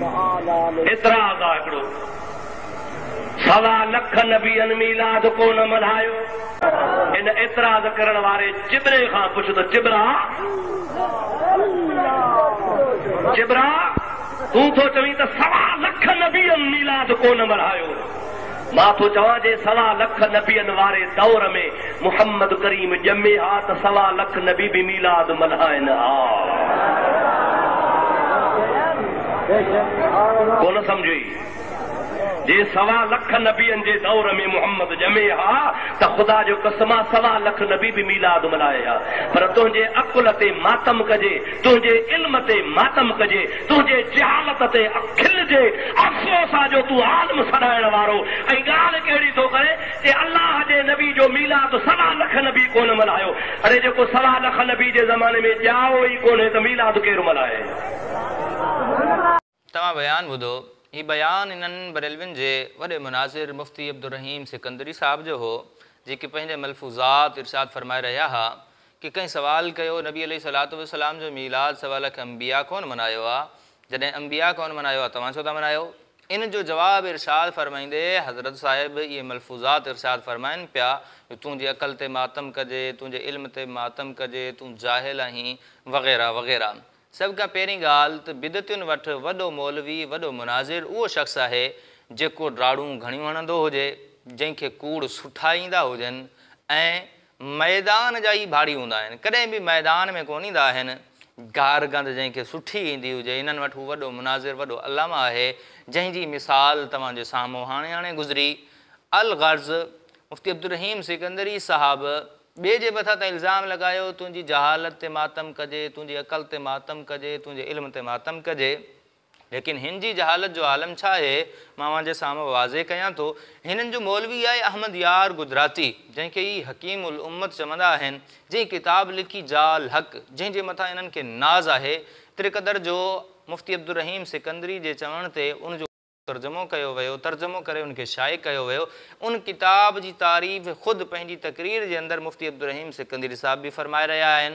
ايترا آغا هڪڙو سوا لک نبين ميلاد ڪو نه ملهايو. ان اعتراض ڪرڻ واري چٻري کان پڇ ته چٻرا! چٻرا! تون ٿو چوين ته سوا لک نبين ميلاد ڪو نه ملهايو. مان ٿو چوان جي سوا لک نبين واري دور ۾ محمد ڪريم ڄمي ها ته سوا لک نبي به ميلاد ملهائن ها. ڪونه سمجهي؟ جي سوا لک نبين جي دور ۾ محمد ڄمي ها ته خدا جو قسم آ سوا لک نبي به ميلاد ملهائي ها پر تنهنجي عقل تي ماتم ڪجي تنهنجي علم تي ماتم ڪجي تنهنجي جهالت تي کلجي، افسوس آ جو تون عالم سڏائڻ وارو ۽ ڳالهه ڪهڙي ٿو ڪرين ته الله جي نبي جو ميلاد سوا لک نبي ڪونه ملهايو، اڙي جيڪو سوا لک نبي جي زماني ۾ ڄائو ئي ڪونهي ته ميلاد ڪير ملهائي. توهان بيان ٻڌو، هي بيان انهن بريلوين جي وڏي مناظر مفتي عبدالرحيم سڪندري صاحب جو هو، جيڪي پنهنجي ملفوظات ارشاد فرمائي رهيا ها، ڪي ڪنهن سوال ڪيو، نبي عليه الصلوة والسلام جو ميلاد سوا لک انبياء ڪونه منايو آ، جڏهن انبياء ڪونه منايو آ توهان ڇو ٿا منايو؟ ان جو جواب ارشاد فرمائيندي حضرت صاحب اهي ملفوظات ارشاد فرمائن پيا جو تنهنجي عقل تي ماتم ڪجي، تنهنجي علم تي ماتم ڪجي، تون جاهل آهين وغيره وغيره. سڀ کان پهرين ڳالهه ته بدعتين وٽ وڏو مولوي، وڏو مناظر اهو شخص آهي جيڪو ڊاڙون گهڻيون هڻندو هجي، جنهن کي ڪوڙ سٺا ايندا هجن ۽ ميدان جا ئي ڀاڙي هوندا آهن. ڪڏهن به ميدان ۾ ڪونه ايندا آهن. گار گند جنهن کي سٺي ايندي هجي، انهن وٽ هو وڏو مناظر، وڏو علامه آهي، جنهن جي مثال توهان جي سامهون هاڻي هاڻي گذري. الغرض، مفتي عبدالرحيم سڪندري صاحب، ٻئي جي مٿان ته الزام لڳايو، تنهنجي جهالت تي ماتم ڪجي، تنهنجي عقل تي ماتم ڪجي، تنهنجي علم تي ماتم ڪجي. ليڪن هن جي جهالت جو عالم ڇا آهي، مان اوهان جي سامهون واضح ڪيان ٿو. هنن جو مولوي آهي احمد يار گجراتي، جنهن کي هي حڪيم الامت چوندا آهن، جنهن ڪتاب لکي جاء الحق، جنهن جي مٿان انهن کي ناز آهي، ايتري قدر جو مفتي عبدالرحيم سڪندري جي چوڻ تي ان جو ترجمو ڪيو ويو، ترجمو ڪري ان کي شايع ڪيو ويو. ان ڪتاب جي تعريف خود پنهنجي تقرير جي اندر مفتي عبدالرحيم سڪندري صاحب به فرمائي رهيا آهن.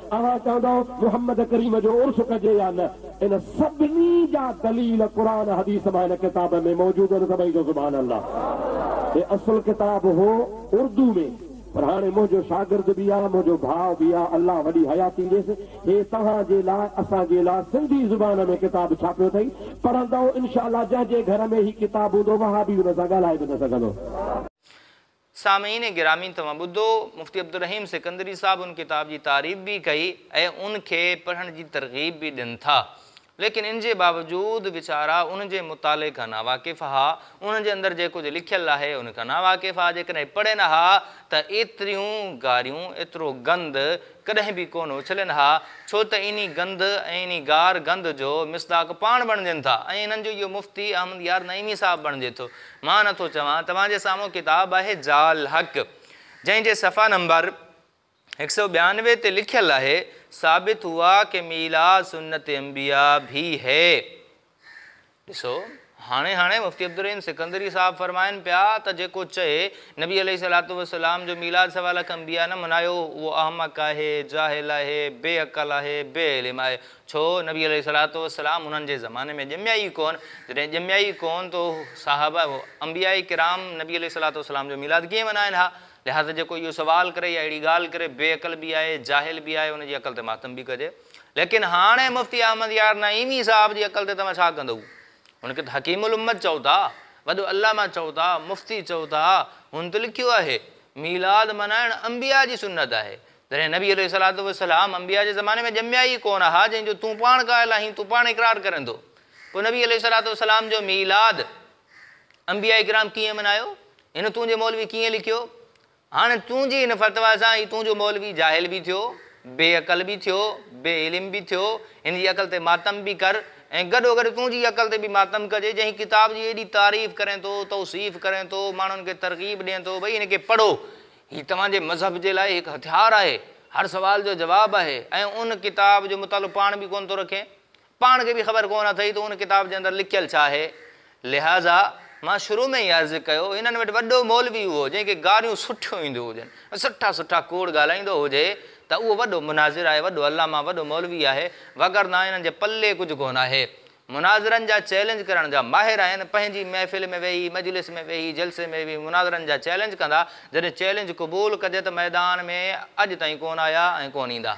اوهان چوندؤ محمد ڪريم جو عرس ڪجي يا نه، ان سڀني جا دليل قرآن حديث مان هن ڪتاب ۾ موجود آهن سڀئي چئو سبحان الله. هي اصل ڪتاب هو اردو ۾ پر هاڻي منهنجو شاگرد به آ منهنجو ڀاء به آ الله وڏي حياتي ڏيس هي توهان جي لاء اسان جي لاء سنڌي زبان ۾ ڪتاب ڇاپيو اٿئي پڙهندؤ انشاء الله جنهن جي گهر ۾ هي ڪتاب هوندو وهابي ان سان ڳالهائي به نه سگهندو. سامعين گرامي توهان ٻڌو مفتي عبدالرحيم سڪندري صاحب ان ڪتاب جي تعريف به ڪئي ۽ ان کي پڙهڻ جي ترغيب به ڏين ٿا ليڪن ان جي باوجود ويچارا ان جي مطالعي کان ناواقف ها انهن جي اندر جي ڪجهه لکيل آهي ان کان ناواقف ها جيڪڏهن پڙهين ها ته ايتريون گاريون ايترو گند ڪڏهن به ڪونه اڇلين ها ڇو ته انهي گند ۽ انهي گار گند جو مصداق پاڻ بڻجن ٿا ۽ انهن جو اهو مفتي احمد يار نعيمي صاحب بڻجي ٿو مان نه ٿو چوان، توهان جي سامهون ڪتاب آهي جاء الحق، جنهن جي صفحا نمبر هڪ سؤ ٻيانوي تي لکيل آهي، ثابت هوا ڪي ميلاد سنت انبياء ڀي هي. ڏسو، هاڻي هاڻي مفتي عبدالرحيم سڪندري صاحب فرمائن پيا ته جيڪو چئي، نبي عليه الصلوة والسلام جو ميلاد سوا لک انبياء نه منايو، اهو احمق آهي، جاهل آهي، بي عقل آهي، بي علم آهي. ڇو نبي عليه الصلوة والسلام انهن جي زماني ۾ ڄميا ئي ڪونه، جڏهن ڄميا ئي ڪونه ته صحابه انبياء ڪرام نبي عليه الصلوة والسلام جو ميلاد ڪيئن ملهائين ها؟ لهٰذا جيڪو اهو سوال ڪري يا اهڙي ڳالهه ڪري بي عقل به آهي، جاهل به آهي، ان جي عقل تي ماتم به ڪجي. ليڪن هاڻي مفتي احمد يار نعيمي صاحب جي عقل تي توهان ڇا ڪندؤ؟ هن کي ته حڪيم الامت چئو ٿا، وڏو علامه چئو ٿا، مفتي چئو ٿا، هن ته لکيو آهي، ميلاد ملهائڻ انبياء جي سنت آهي، جڏهن نبي عليه الصلوة والسلام انبياء جي زماني ۾ ڄميا ئي ڪونه ها جنهن جو تون پاڻ قائل آهين، تون پاڻ اقرار ڪرين ٿو، پوء نبي عليه الصلوة والسلام جو ميلاد انبياء ڪرام ڪيئن ملهايو؟ هن تنهنجي مولوي ڪيئن لکيو؟ هاڻي تنهنجي هن فتويٰ سان هي تنهنجو مولوي جاهل به ٿيو، بي عقل به ٿيو، بي علم به ٿيو، هن جي عقل تي ماتم به ڪر ۽ گڏوگڏ تنهنجي عقل تي به ماتم ڪجي جنهن ڪتاب جي ايڏي تعريف ڪرين ٿو، توصيف ڪرين ٿو، ماڻهن کي ترغيب ڏين ٿو، ڀئي هن کي پڙهو، هي توهان جي مذهب جي لاء هڪ هٿيار آهي، هر سوال جو جواب آهي ۽ ان ڪتاب جو مطالعو پاڻ به ڪونه ٿو رکين. پاڻ کي به خبر ڪونه اٿئي ته ان ڪتاب جي اندر لکيل ڇا آهي. لهٰذا مان شروع ۾ ئي عرض ڪيو، هنن وٽ وڏو مولوي اهو جنهن کي گاريون سٺيون اينديون هجن ۽ سٺا سٺا ڪوڙ ڳالهائيندو هجي ته اهو وڏو مناظر آهي، وڏو علامه، وڏو مولوي آهي، وگرنه هنن جي پلي ڪجهه ڪونه آهي. مناظرن جا چئلينج ڪرڻ جا ماهر آهن، پنهنجي محفل ۾ ويهي، مجلس ۾ ويهي، جلسي ۾ ويهي مناظرن جا چئلينج ڪندا، جڏهن چئلينج قبول ڪجي ته ميدان ۾ اڄ تائين ڪونه آيا ۽ ڪونه ايندا.